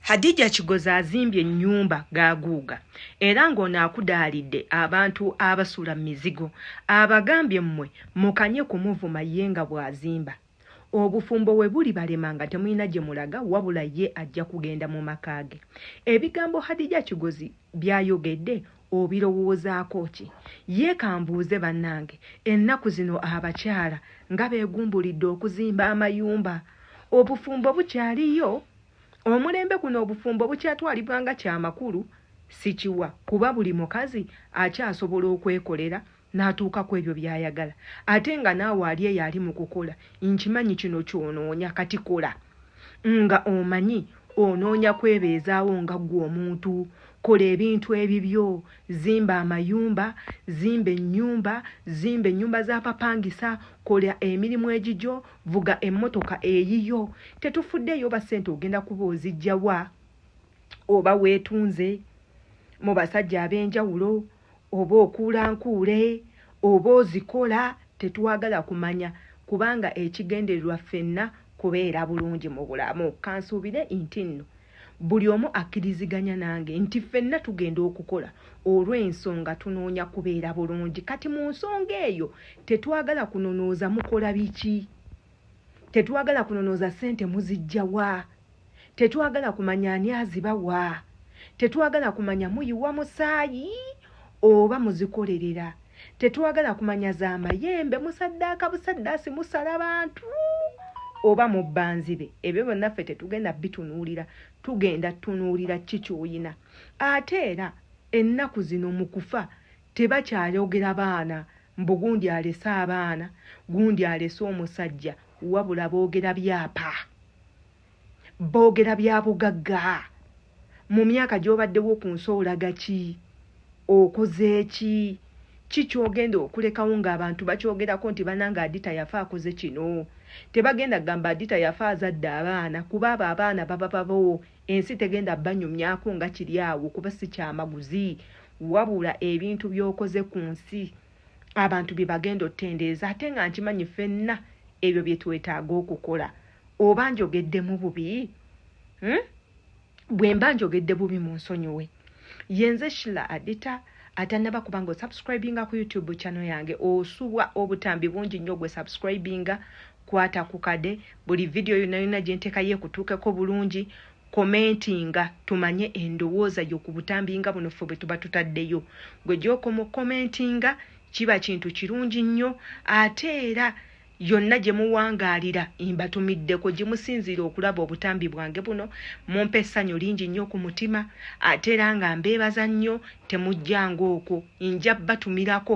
Hadija Kigozi azimbye ennyumba gaaguuga era ng'ono akudaalidde abantu abasula mu mizigo abagambye mmwe mukanye kumuvuma ye nga bw'azimba obufumbo we bulibalema nga temulina gye mulaga wabula ye ajja kugenda mu maka ge. Ebigambo Hadija Kigozi by'ayogedde obirowoozaako ki? Ye kambuuze bannange, ennaku zino abakyala nga beegumbulidde okuzimba amayumba, obufumbo bukyaliyo? Omulembe guno obufumbo bukyatwalibwa nga kya makulu? Sikiwa kuba buli mukazi akyasobola okwekolera n'atuuka ku ebyo by'ayagala ate nga naawe ali eyo ali mu kukola nkimanyi kino ky'onoonya kati kola nga omanyi onoonya kwebeezaawo nga ggwe omuntu kola ebintu ebibyo zimba amayumba zimba ennyumba zimba ennyumba z'abapangisa kola emirimu egigyo vuga emmotoka eyiyo tetufuddeeyo oba ssente ogenda kuba ozijjawa oba weetunze mu basajja ab'enjawulo oba okuula nkuule oba ozikola tetwagala kumanya kubanga ekigendererwa ffenna kubeera bulungi mu bulamu kansuubire nti nno buli omu akkiriziganya nange nti ffenna tugenda okukola olw'ensonga tunoonya kubeera bulungi kati mu nsonga eyo tetwagala kunonooza mukola biki tetwagala kunonooza ssente muzijjawa tetwagala kumanya ani azibawa tetwagala kumanya muyiwa musaayi oba muzikolerera tetwagala kumanya za mayembe musaddaaka busaddaasi musala bantu oba mubbanzibe ebyo byonna ffe tetugenda bitunuulira tugenda tunuulira ki kyoyina ate era ennaku zino mu kufa Tebakyayogera baana mbu gundi alese abaana, gundi alese omusajja wabula boogera byapa. Boogera bya bugagga. Mu myaka gy'obaddewo ku nsi olaga ki? Okoze ki? ki kyogenda okulekawo ng'abantu bakyogerako nti banange adita yafa akoze kino tebagenda kugamba adita yafa azadde abaana kuba abo abaana baba babawo Ensi tegenda banyumyako nga kiri awo kuba si kyamaguzi wabula ebintu by'okoze ku nsi abantu bye bagenda otendereza ate nga nkimanyi ffenna ebyo bye twetaaga okukola oba njogeddemu bubi hmm? bwe mba njogedde bubi mu nsonyiwe yenze shila adita atanaba kubanga osubscribinga ku youtube channel yange osubwa obutambi bungi nnyo gwe subscribinga kwata kukade buli video yona yona gyenteka yekutuukeko bulungi komentinga tumanye endowooza yo ku butambi nga buno ffe bwetuba tutaddeyo gwe gyokoma okomentinga kiba kintu kirungi nnyo ate era yonna gye muwangaalira mbatumiddeko gye musinziira okulaba obutambi bwange buno mumpa essanyu lingi nnyo ku mutima ate era nga mbeebaza nnyo temujjanga okwo nja batumirako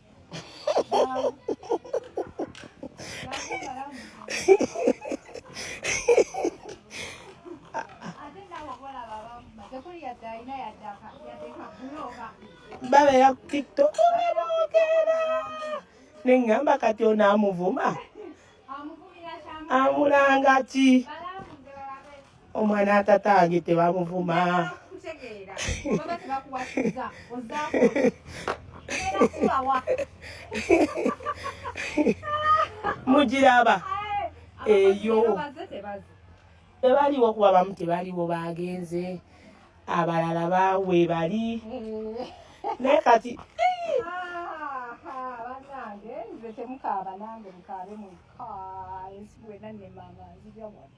babeera ku tiktok bamwogera neŋŋamba kati ono amuvuma amulanga ki omwana atatange tebamuvuma mugiraba eyo tebaliwo kuba bamu tebaliwo bagenze abalala bawe bali naye kati temukaaba nange mukaabe mwekka ensi bwena nemanga nzija wano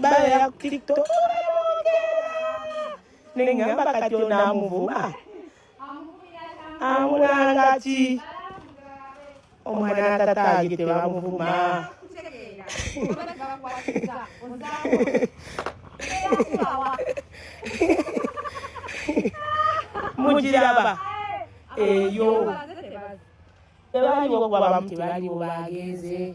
bayo ya tiktok nengamba kati onamuvuma amulanga ki omwana tataage tebamuvuma mugiraba eyo tebaliwo kubabamu tebaliwo bagenze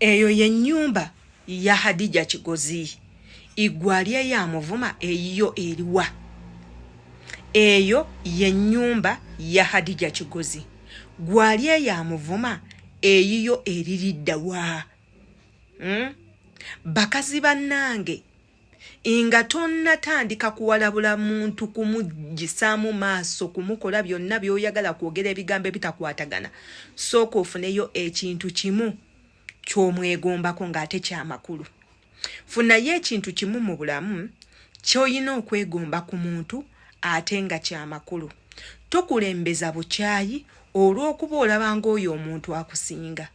eyo ye nyumba ya hadija kigozi igwalya ya muvuma eyiyo eriwa eyo ye nyumba ya hadija kigozi gwalya ya muvuma eyiyo eriridda wa hmm? bakazi banange nga tonnatandika kuwalabula muntu kumugisaamu maaso kumukola byonna by'oyagala kwogera ebigambo ebitakwatagana sooka ofuneyo ekintu kimu ky'omwegombako ng'ate kyamakulu funayo ekintu kimu mu bulamu ky'olina okwegomba ku muntu ate nga kyamakulu tokulembeza bukyayi olw'okuba olabanga oyo omuntu akusinga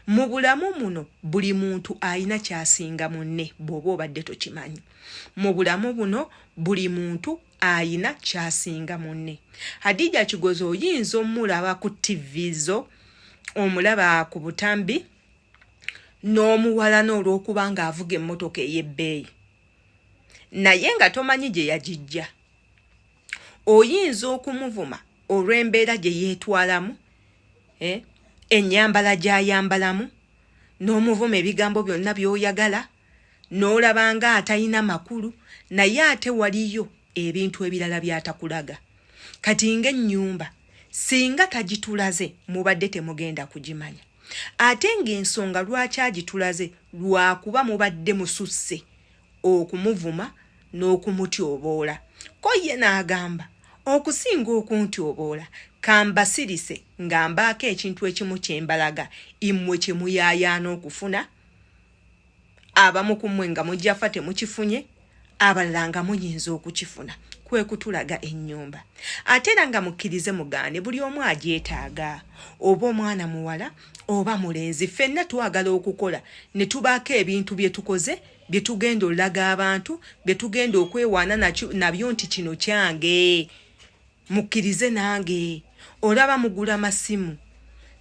mu bulamu muno buli muntu alina kyasinga munne bw'oba obadde tokimanyi mu bulamu buno buli muntu ayina kyasinga munne hadija kigozi oyinza omulaba ku tivi zo omulaba ku butambi n'omuwalana olw'okuba ng'avuga emmotoka ey'ebbeeyi naye nga tomanyi gye yagijja oyinza okumuvuma olw'embeera gye yeetwalamu eh, ennyambala gy'ayambalamu n'omuvuma ebigambo byonna by'oyagala n'olaba nga atalina makulu naye ate waliyo ebintu ebirala byatakulaga kati ng'ennyumba singa tagitulaze mubadde temugenda kugimanya ate ng'ensonga lwaki agitulaze lwakuba mubadde mususse okumuvuma n'okumutyoboola ko ye n'agamba okusinga okuntyoboola kambasirise nga mbaako ekintu ekimu kye mbalaga immwe kye muyaayaana okufuna abamu ku mmwe nga mujjafa temukifunye abalala nga muyinza okukifuna kwe kutulaga ennyumba ate era nga mukkirize mugaane buli omu agyetaaga oba omwana muwala oba mulenzi ffenna twagala okukola ne tubaako ebintu bye tukoze byetugenda olaga abantu byetugenda okwewaana nabyo nti kino kyange mukkirize nange olaba mugula masimu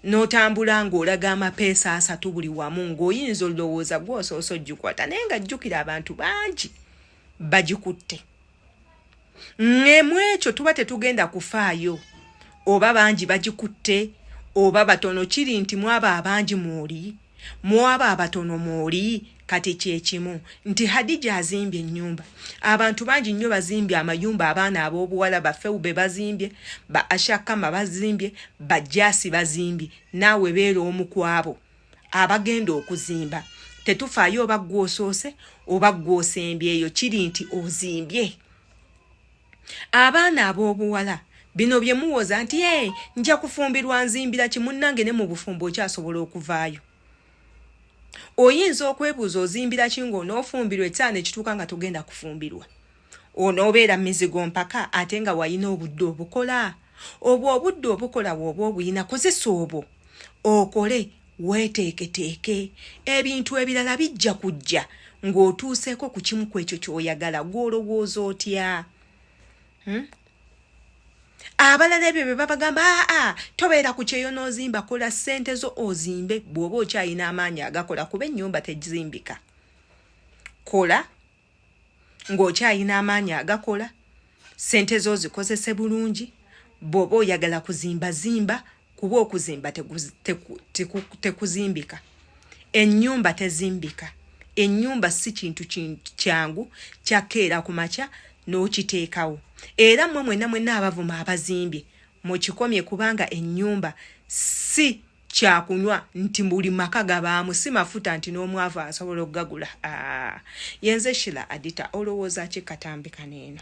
n'otambula ng'olaga amapeesa asatu buli wamu ng'oyinza olowooza gwosoose ojjukwata naye nga jjukira abantu bangi bagikutte ngemu ekyo tuba tetugenda kufaayo oba bangi bagikutte oba batono kiri nti mwabo abangi mwoli mwabo abatono mwoli kati kyekimu nti hadija azimbye ennyumba abantu bangi nnyo bazimbye amayumba abaana ab'obuwala bafewu be bazimbye ba ashakama bazimbye bajasi bazimbye naawe beera omu kwabo abagenda okuzimba tetufaayo oba gwosoose oba gwosembyeyo kiri nti ozimbye abaana ab'obuwala bino bye muwoza nti e nja kufumbirwa nzimbira kimunnange ne mu bufumbo okyasobola okuvaayo oyinza okwebuuza ozimbira ki ng'onoofumbirwa ekyana ekituuka nga togenda kufumbirwa onoobeera mizigo mpaka ate nga walina obudde obukola obwo obudde obukola wooba obuyina kozesa obwo okole weeteeketeeke ebintu ebirala bijja kujja ng'otuuseeko ku kimu ku ekyo ky'oyagala gw'olowooza otya hmm? abalala ebyo bye babagamba aa ah, ah, tobeera ku kyeyo n'ozimba kola ssente zo ozimbe bw'oba okyalina amaanyi agakola kuba ennyumba tezimbika kola ng'okyalina amaanyi agakola sente zo zikozese bulungi bw'oba oyagala kuzimba zimba kuba okuzimba tekuzimbika ennyumba tezimbika ennyumba si kintu kyangu kyakeera ku makya n'okiteekawo era mmwe mwena mwena abavuma abazimbye mukikomye kubanga ennyumba si kyakunywa nti buli maka gabaamu si mafuta nti n'omwavu asobola okugagula yenze shila adita olowooza ki katambi kaneeno